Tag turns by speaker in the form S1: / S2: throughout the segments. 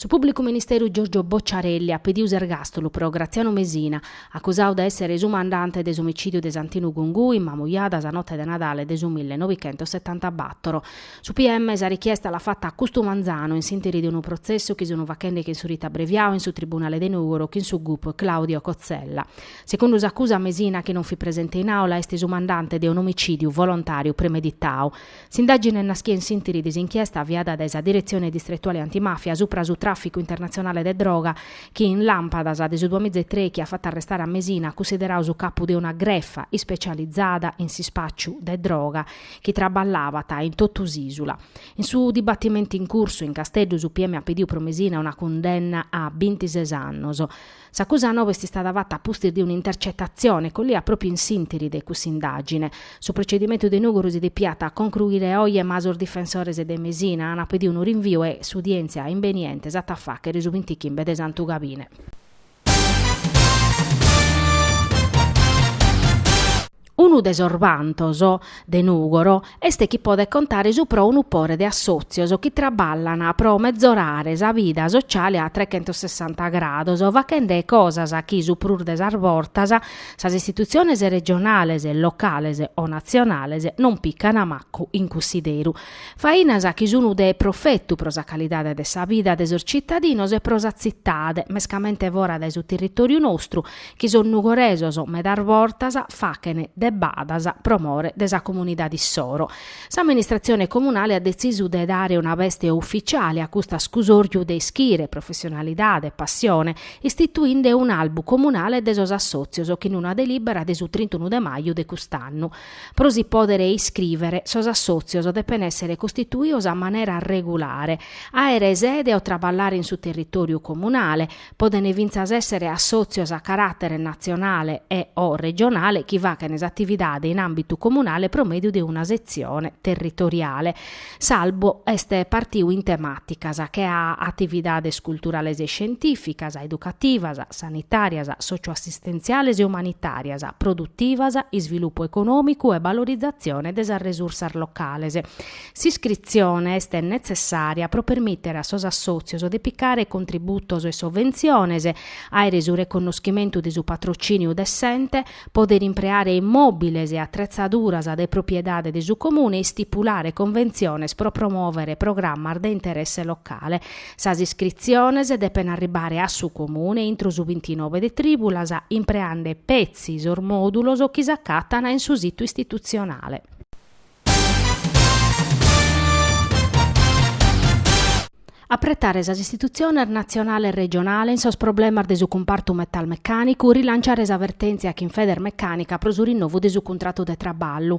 S1: Su pùblicu ministeru Giorgio Bocciarelli at pedidu s'ergàstulu pro Graziano Mesina, acusadu de èssere su mandante de s'omicìdiu de Santinu Gungui, in Mamujada sa note de Nadale de su mille novichentos setanta bàtoro. Su PM sa richiesta l'at fata a custu manzanu in s'ìnteri de unu protzessu chi sun faghende chin su ritu abbreviadu in su tribunale de Nùgoro chin su gup Claudio Cozzella. Segundu s'acusa Mesina chi non fit presente in àula est su mandante de un'omicìdiu volontàriu premeditadu. S'indàgine naschia in s'intiri de s'inchiesta aviada dae sa Diretzione Distretuale Antimàfia supra su tràficu internatzionale de droga chi, in làmpadas de su duamiza e trèichi, at fatu arrestare a Mesina, cussideradu su capu de una grefa ispecializada in s'ispàciu de droga, chi traballabat in totu s'ìsula. In su dibatimentu in cursu in Casteddu su PM at pediu pro Mesina una cundenna a bintises annos. S'acusa noba est istada fata a pustis de un'intercetatzione collia pròpiu in s'intiri de cussa indàgine. Su procedimentu de Nùgoro si depiat concruire oje ma sos difensores de Mesina ant pediu unu rinviu e s'udièntzia imbeniente s'at a fàghere su bintichimbe de Santu Gabine. Unu de sos vantos de Nùgoro est chi podet contare supra unu pore de assòtzios chi traballan pro metzorare sa vida sotziale a trechentossessanta grados, faghende cosas chi su prus de sas bortas sas istitutziones regionales, locales o natzionales non pican mancu in cussideru. Fainas chi sun de profetu pro sa calidade de sa vida de sos tzitadinos e pro sa tzitade, mescamente fora dae su territòriu nostru, chi sos nugoresos medas bortas faghen de badas pro more de sa comunidade issoro. S'amministratzione comunale at detzisu de dare una beste ufitziale a cust'ascusorju de ischire, professionalidade, passione, istituinde un'albu comunale de sos assòtzios chin una delìbera de su trintunu de maju de cust'annu. Pro si pòdere iscrìvere, sos assòtzios depen èssere costituidos a manera regulare, àere sede o traballare in su territòriu comunale, podent fintzas èssere assòtzios a caràtere natzionale e o regionale chi faghent s'atividade in àmbitu comunale pro mèdiu de una setzione territoriale. S'albu est partiu in temàticas, che a atividades culturales e scientìficas, educativas, sanitàrias, sòcioassistentziales e umanitàrias, produtivas, isvilupu econòmicu e balorizatzione de sas resursas locales. S'iscritzione est netzessària pro permìtere a sos assòtzios de picare contributos e sovventziones, àere su reconnoschimentu de su patrocìniu de s'ente, pòdere impreare immòbiles e atretzaduras de propiedade de su Comune e istipulare conventziones pro promòvere programmas de interesse locale. Sas iscritziones depent arribare a su Comune intro su bintinove de trìbulas impreande petzi sos mòdulos chi s'acatan in su situ istitutzionale. Apretare sas istitutziones natzionale e regionale in sos problemas de su cumpartu metalmecànicu, rilanciare sa vertèntzia chin Federmecànica pro su rinnovu de su cuntratu de traballu.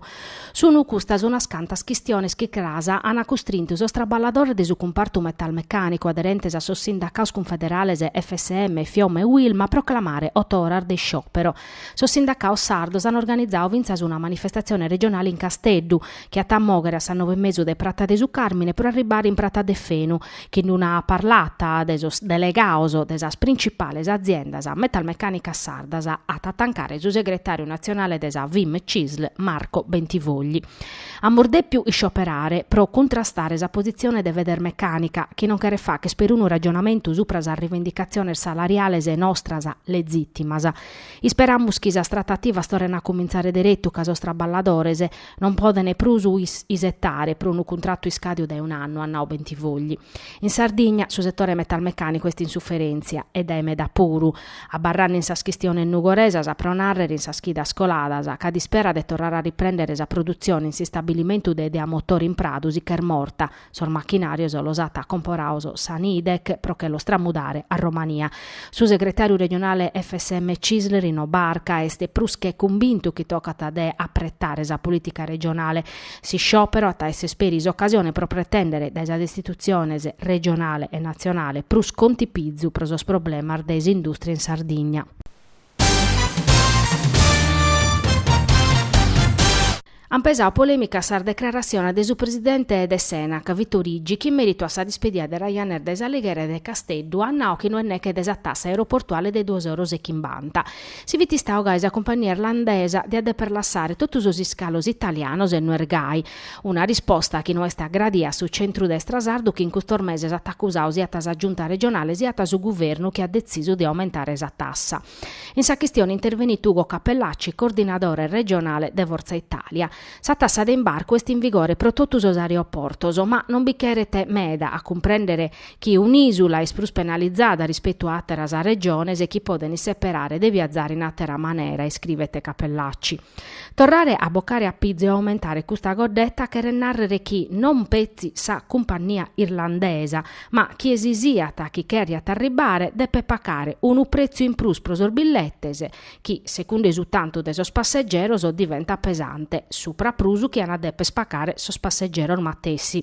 S1: Sunt custas unas cantas chistiones chi cras an custrintu sos traballadores de su cumpartu metalmecànicu aderentes a sos sindacados cunfederales FSM, Fiom e Uilm a proclamare oto oras de sciòpero. Sos sindacados sardos an organizadu fintzas una manifestatzione regionale in Casteddu, chi at a mòghere a sas nove e mesu de Prata de su Càrmine pro arribbare in Prata Deffenu, chin d-una parlata de sos delegados de sas printzipales aziendas metalmecànicas sardas at a tancare su segretàriu natzionale de sa Fim Cisl Marco Bentivogli. Amus dèpiu iscioperare pro cuntrastare sa positzione de Federmecànica, chi non cheret fàcher perunu ragionamentu subra sas rivendicatziones salariales e nostras legìtimas. Isperamus chi sas tratativas torren a cumintzare deretu ca sos traballadores non podent prus isetare pro unu cuntratu iscàdiu dae un'annu, at nau Bentivogli. In Sardigna su setore metalmecànicu est in suferèntzia, e dae meda puru, Abarrande in sas chistiones nugoresas, pro nàrrere in sas chidas coladas, cada ispera de torrare a riprèndere sa produtzione in s'istabilimentu de Idea Motore in Pradu si ch'est morta, sos machinàrios los at acomporados sa Nidec pro che los tramudare a Romania. Su segretàriu regionale FSM Cisl Rino Barca est prus che cumbintu chi tocat de apretare sa polìtica regionale S'isciòperu at a èssere peri s'ocasione pro pretèndere dae sas istitutziones regionale e natzionale prus contipizu pro sos problemas de s'indùstria in Sardigna. Ant pesadu polèmicas sas decraratziones de su presidente de s'Enac, Vito Riggio, chi in mèritu a sa dispedida de Ryanair dae s'Alighera e de Casteddu at nadu chi no est neche de sa tassa aeroportuale de duos euros e chimbanta, Si fit istadu gai sa cumpagnia irlandesa diat deper lassare totu sos iscalos italianos e no est gai. Una risposta chi no est agradada a su centrudestra sardu chi in custos meses at acusadu siat sa Giunta regionale siat su Guvernu chi at detzisu de aumentare sa tassa. In sa chistione intervenit Ugo Cappellacci, coordinadore regionale de Forza Italia. Sa tassa de imbarcu est in vigore pro totu sos aeroportos, ma non bi cheret meda a cumprèndere chi un'ìsula est prus penalizada rispetu a àteras regiones e chi podent isseperare de viazare in àtera manera, iscrivet Cappellacci. Torrare a bocare a pizu e aumentare custa coddeta cheret nàrrere chi non petzi sa cumpannia irlandesa, ma chie si siat chi cherjat arribbare depet pagare unu pretzu in prus pro sos billetes, chi, secundu su tantu de sos passegeros, diventat pesante, supra prus chi an a deper pacare sos passegeros matessi.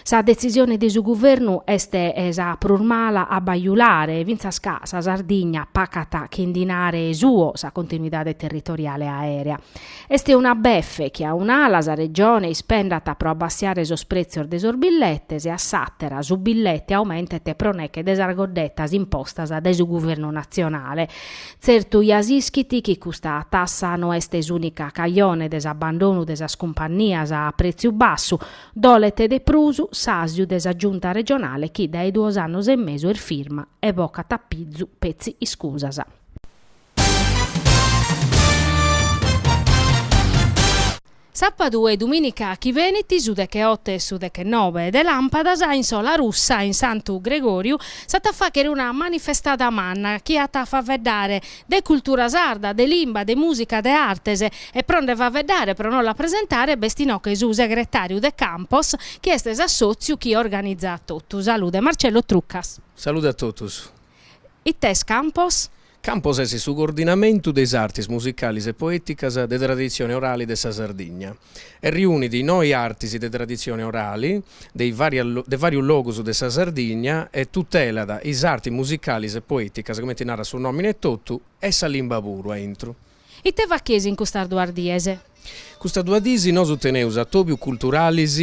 S1: Sa detzisione de su guvernu est sa prus mala a bajulare e fintzas ca sa Sardigna pacat chin dinare suo sa continuidade territoriale aèrea. Est una befe chi a un'ala sa Regione ispendat pro abbassiare sos pretzios de sos billetes e a s'àtera su billete aumentet pro neche de sas goddettas impostas dae su guvernu natzionale, Tzertu ja s'ischit chi custa tassa no est s'ùnica cajone de s'abandonu de sas cumpannias a pretziu bassu, dolet de prus s'àsiu de sa Giunta regionale chi dae duos annos e mesu est firma e bocat a pizu petzi iscusas. Sàpadu e dumìnica chi benit, su decheote e su dechenobe de làmpadas, in Solarussa, in Santu Gregòriu, s'at a fàchere una manifestada manna chi at a faveddare de cultura sarda, de limba, de mùsica, de artes. E pro nde faveddare, pro nos la presentare, b'est in oche su segretàriu de Campos, chi est s'assòtziu chi organizat totu. Salude Marcello Trucas. Salude a totus.
S2: Ite est
S1: Campos? Campos est
S2: su coordinamentu de is artis musicalis e poèticas de traditzione orali de sa Sardigna e riunit noi artis de traditzione orali de de vàrius logus de sa Sardigna e tutelat is artis musicalis e poèticas, cumenti narat su nòmine etotu, e sa limba puru aintru. Ite
S1: facheis in custas duas dies? Custas
S2: duas dies nosu teneus atobius culturalis,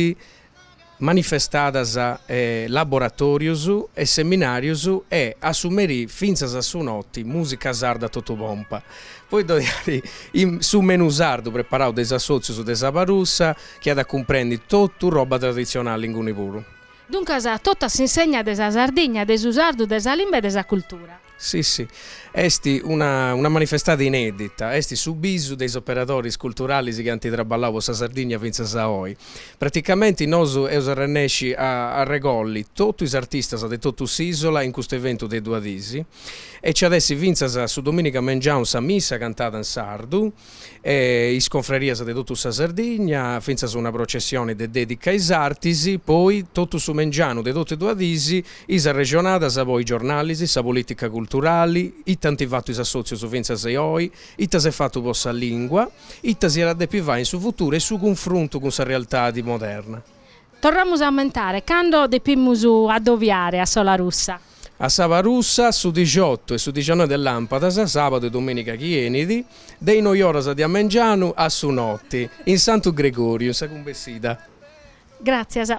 S2: manifestadas e laboratorius e seminarius e a su merì fintzas a su noti musica sarda a totu pompa. Poi ddoi at su menù sardu preparau de is assotzius de Sabarussa chi at a cumprendi totu roba traditzionali inguni puru. Duncas totu
S1: a s'insegna de sa Sardigna, de su sardu, de sa limba e de sa cultura. Si
S2: si, est una una manifestada inedita, est su bisu de is operadoris culturalis chi ant traballau po sa Sardigna fintzas a oi. Praticamenti nosu eus arrennesci a arregolli totu is artistas de totu s'isola in custu eventu de duas dis e nci at essi fintzas su dominica mengianu sa missa cantada in sardu, e is confrerias de totu sa Sardigna, fintzas una processioni de dèdica a is artis, poi totu su mengianu de totu e duas dis, is arrexonadas po is giornalis, sa polìtica culturali, ita ant fatu is assòtzius fintzas e oi, ita s'est fatu po sa lìngua, ita si at a depi fai in su futuru e su cunfruntu cun sa realtadi moderna. Torramus
S1: a ammentare, cando depimus addoviare a Solarussa? A Sabarussa,
S2: su dixotu e su dixannoe de làmpadas, sàbadu e domìniga chi 'enit, de is noi oras de a mengianu a su noti, in Santu Gregòriu, in sa Cumbessida. Gràtzias.